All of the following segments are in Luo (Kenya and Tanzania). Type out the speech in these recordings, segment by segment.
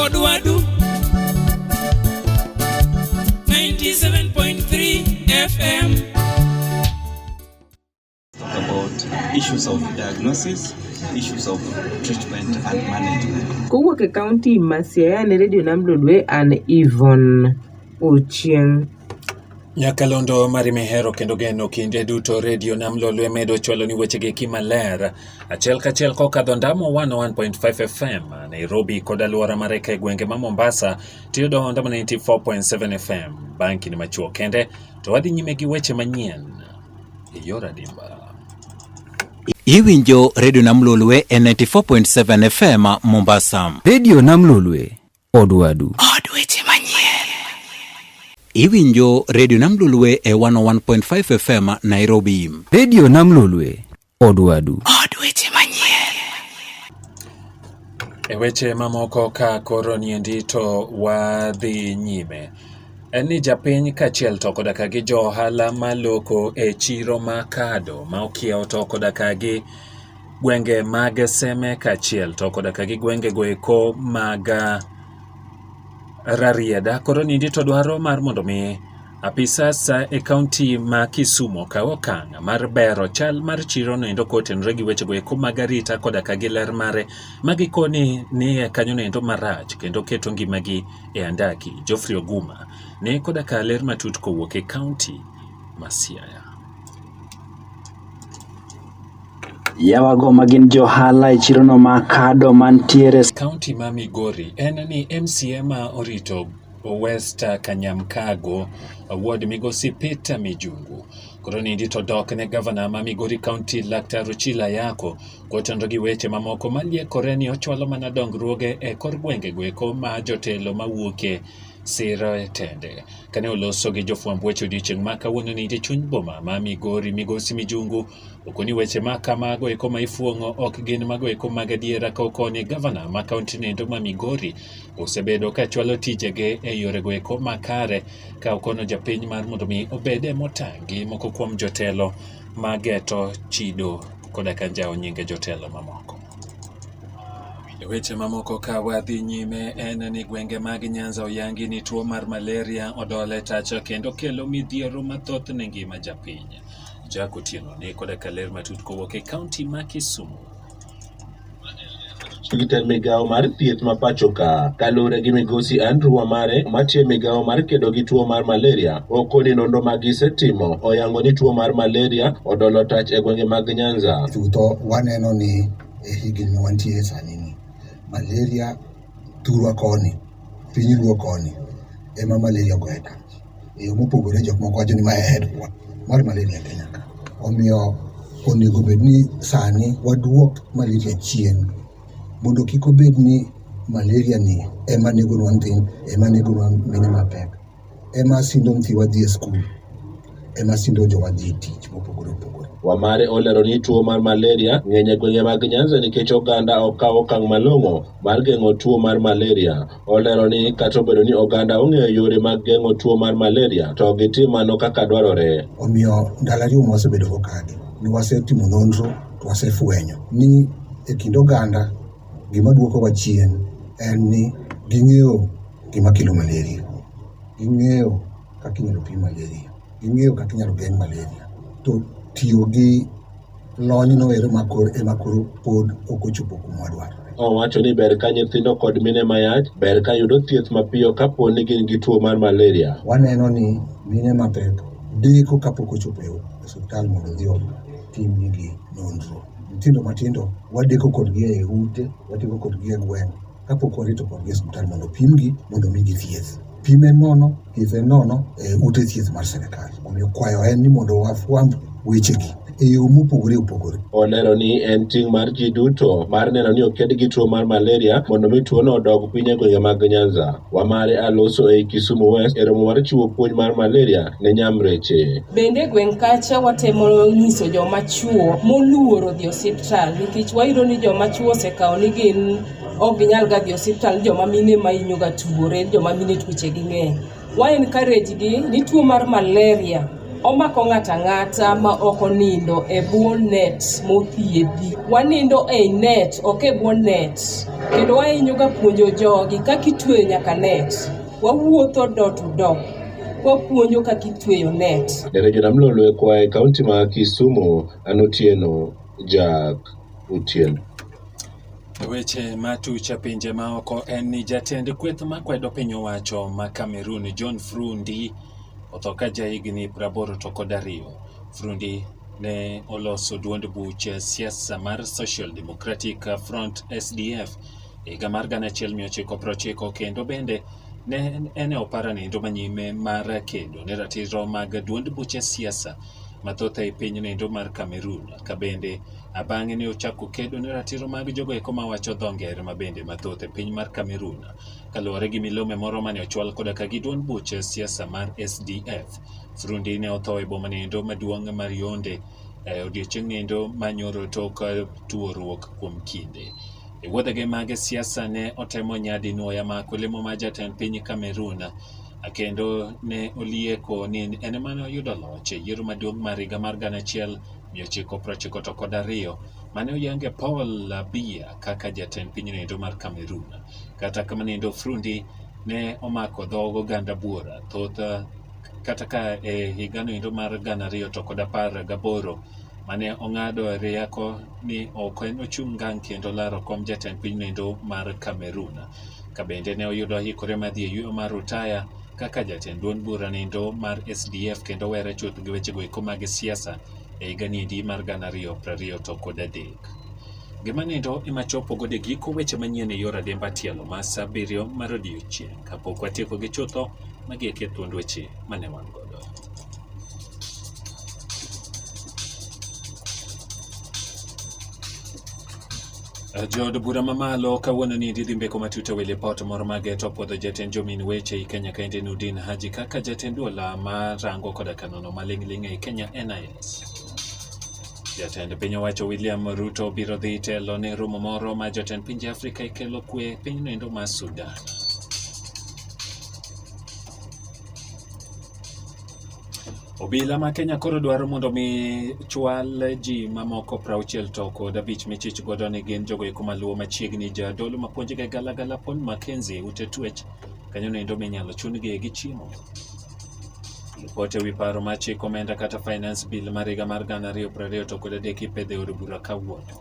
Odwadu 97.3 FM. Talk about issues of diagnosis, issues of treatment and management. Kowuok e kaunti ma Siaya ne Radio Nam Lolwe an Yvonne Ochieng'. Nyakalondo mari mihero kendo geno kinde duto redio nam lolwe medo chwalo ni weche gi kimaler achiel kachiel kokadho ndamo 101.5 FM Nairobi kod aluora mare ka gwenge ma Mombasa tiyo do ndamo 94.7 FM bang' kinde machuo kende to wadhi nyime gi weche manyien e yor adimba. Iwinjo redio nam lolwe e 94.7 FM Mombasa. Redio nam lolwe Od Wadu. Od weche manyien. Iwinjo Radio Nam Lolwe e 101.5 FM Nairobi. Radio Nam Lolwe, Od Wadu. Od weche manyien. E weche mamoko ka koro niendi to wadhi nyime. En ni japiny kachiel to koda ka gi jo ohala maloko e chiro ma kado ma okiewo to koda ka gi gwenge mag Seme kaachiel to koda ka gi gwenge go eko mag ah, Rarieda. Koro nindi to dwaro mar mondo mi apisas ah, e kaunti ma Kisumu okaw okang' mar bero chal mar chiro no endo kotenore gi weche go eko mag arita koda ka gi ler mare ma gikoni ni e kanyo no endo marach kendo keto ngimagi e andaki. Geoffrey Oguma ne koda ka ler matut kowuok e kaunti ma Siaya. Yawago ma gin johala e chirono ma kado mantiere kaunti ma Migori en ni MCA ma orito West Kanyamkago ward migosi Peter Mijungu koro nindi to dok ne gavana ma Migori kaunti Laktar Ochila Yako kotenore gi weche mamoko maliekore ni ochwalo mana dongruoge e kor gwenge goeko ma jotelo mawuoke siro e tende kane oloso gi jofwamb weche odiechieng' ma kawuono nindi chuny boma ma Migori migosi Mijungu Oko ni weche ma kamago eko ma ifuong'o ok gin mago eko mag adiera ka okoni gavana ma kaunti nendo ma Migori osebedo ka chwalo tijege e yorego eko makare ka okono japiny mar mondo mi obed e motang' gi moko kuom jotelo ma geto chido koda ka njawo nyinge jotelo mamoko. E weche mamoko ka wadhi nyime en ni gwenge mag Nyanza oyangi ni tuo mar malaria odole tacha kendo kelo midhiero mathoth ne ngima japiny. Jack Otieno ne koda ka ler matut kowuok e kaunti ma Kisumu. Jatend migawo mar thieth ma pachoka kaluwore gi migosi Andrew Wamare matiyo migawo mar kedo gi tuo mar malaria oko ni nonro ma gisetimo oyango ni tuo mar malaria odolo tach e gwenge mag Nyanza. Chutho waneno ni e higni ma wantie sani ni malaria thurwa koni, piny luo koni ema malaria ogoye kach. E yo mopogore jok moko wacho ni ma e headquarter mar malaria Kenya ka. Omiyo onego bed ni sani waduok malaria chien mondo kik obed ni malaria ni ema negonwa nyithindo, ema negonwa mine mapek. ema sindo nyithiwa dhi e skul, ema sindo jowa dhi e tich mopogore opogore. Wamare olero ni tuo mar malaria ng'eny e gwenge mag Nyanza nikech oganda ok kaw okang' malong'o mar geng'o tuo mar malaria. Olero ni kata obedo ni oganda ong'eyo yore mag geng'o tuo mar malaria to ok gitim mano kaka dwarore. Omiyo ndalo ariyo ma wasebedo kokadhi ne wasetimo nonro to wasefwenyo ni e kind oganda gima duokowa chien en ni ging'eyo gima kelo malaria, ging'eyo kaka inyalo thiedh malaria, ging'eyo kaka inyalo geng' malaria to tiyo gi lony no ero ema koro pod ok ochopo kuma wadwaro. Owacho ni ber ka nyithindo kod mine mayach ber ka yudo thieth mapiyo kapo ni gin gi tuo mar malaria. Waneno ni mine mapek deko kapok ochopo e osiptal mondo odhi otimnigi nonro. Nyithindo matindo wadeko kodgi e ute, wadeko kodgi e gweng'. kapok warito kodgi e osiptal mondo opimgi mondo omigi thieth. Pim en nono, thieth en nono e ute thieth mar sirkal. Omiyo kwayo en ni mondo wafwamb wechegi e yo mopogore opogore. Olero ni en ting' mar ji duto mar neno ni oked gi tuo mar malaria mondo mi tuono odog piny e gwenge mag Nyanza. Wamare Aloso ei Kisumu West e romo mar chiwo puonj mar malaria ne Nyamreche. Bende e gweng' kacha watemo nyiso joma chuo moluoro dhi osiptal nikech wayudo ni joma chuo osekawo ni gin ok ginyal ga dhi osiptal joma mine ma inyo ga tuore joma mine tuoche gi ng'eny wa encourage gi ni tuo mar malaria omako ng'ato ang'ata ma ok onindo e bwo net mothiedhi. Wanindo e net, ok e bwo net. Kendo wahinyoga puonjo jogi kaka itweyo nyaka net. Wawuotho dot dot kwapuonjo kaka itweyo net. Jarejo nam lolwe kwa e kaunti ma Kisumu an Otieno Jack Otieno. E weche ma tuche pinje ma oko en ni jatend kweth ma kwedo piny owacho ma Cameroon John Frundi otho ka jahigni praboro to kod ariyo. Frundi ne oloso duond buch siasa mar Social Democratic Front SDF E higa mar gana achiel mia ochiko prochiko kendo bende ne en e opara nindo manyime mar kedo ne ratiro mag duond buche siasa mathoth ei piny nindo mar Cameroon ka bende abang'e ne ochako kedo ne ratiro mag jogo eko mawacho dho ngere ma bende mathoth e piny mar Cameroon kaluwore gi milome moro mane ochwal koda ka gi duond buche siasa mar SDF. Frundi ne otho e boma nindo maduong' mar Yonde e odiechieng' nindo manyoro tok tuoruok kuom kinde. E wuodhege mag siasa ne otemo nyadi nwoya ma kulemo ma jatend piny Cameroon kendo ne olieko ni en emane oyudo loch e yiero maduong' mar higa mar gana achiel mia ochiko prochiko to kod ariyo mane oyange Paul Biya kaka jatend pinyno endo mar Cameroon. Kata kamano endo Frundi ne omako dhog oganda buora thoth kata ka e higano endo mar gana ariyo to kod apar gaboro mane ong'ado rieko ni ok en ochung' ngang' kendo laro kom jatend pinynoendo mar Cameroon. Kabende ne oyudo oikore mar dhi e yueyo mar rutaya kaka jatend duond bura nindo mar SDF kendo were chuth gi wechego eko mag siasa e higa niendi mar gana ariyo prariyo to kod adek. Gima nindo ema chopo gode giko weche manyien e yor ademba tielo ma sa abiriyo mar odiechieng' kapok watieko gi chutho magi eke thuond weche mane wan godo. Jood bura mamalo kawuono ni didhi mbeko matut e wi lipot moro ma geto puodho jatend jomin weche i Kenya kaende Nudin Haji kaka jatend dola ma rango koda kanono maling'ling' ei Kenya NIS. Jatend piny owacho William Ruto biro dhi telo ne romo moro ma jotend pinje Afrika ikelo kwe pinyno endo ma Sudan. Obila ma Kenya koro dwaro mondo mi chwal ji mamoko prauchiel to kod abich michich godo ni gin jogo eko maluwo machiegni jadolo mapuonjga galagala pon Makenzi ute twech kanyo noendo minyalo chungi gi chiemo. Ripot ewi paro ma chik omenda kata finance bill mar higa mar gana ariyo prariyo to kod adek ipedho e od bura kawuono.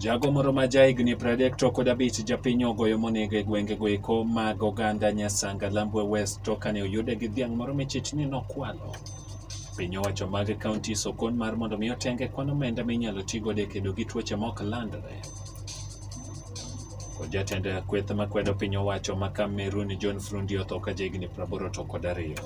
Jago moro ma jahigni 30 to kod abich japiny ogoyo monego e gwengego eko mag oganda Nyasanga Lambwe West to kane oyude gi dhiang' moro michich ni nokwalo. Piny owacho mag kaunti sokon mar mondo mi otenge kwan omenda minyalo ti godo e kedo gi tuoche mok landre. Kod jatend kweth makwedo piny owacho ma Cameroon John Frundi otho ka jahigni 80 to kod ariyo.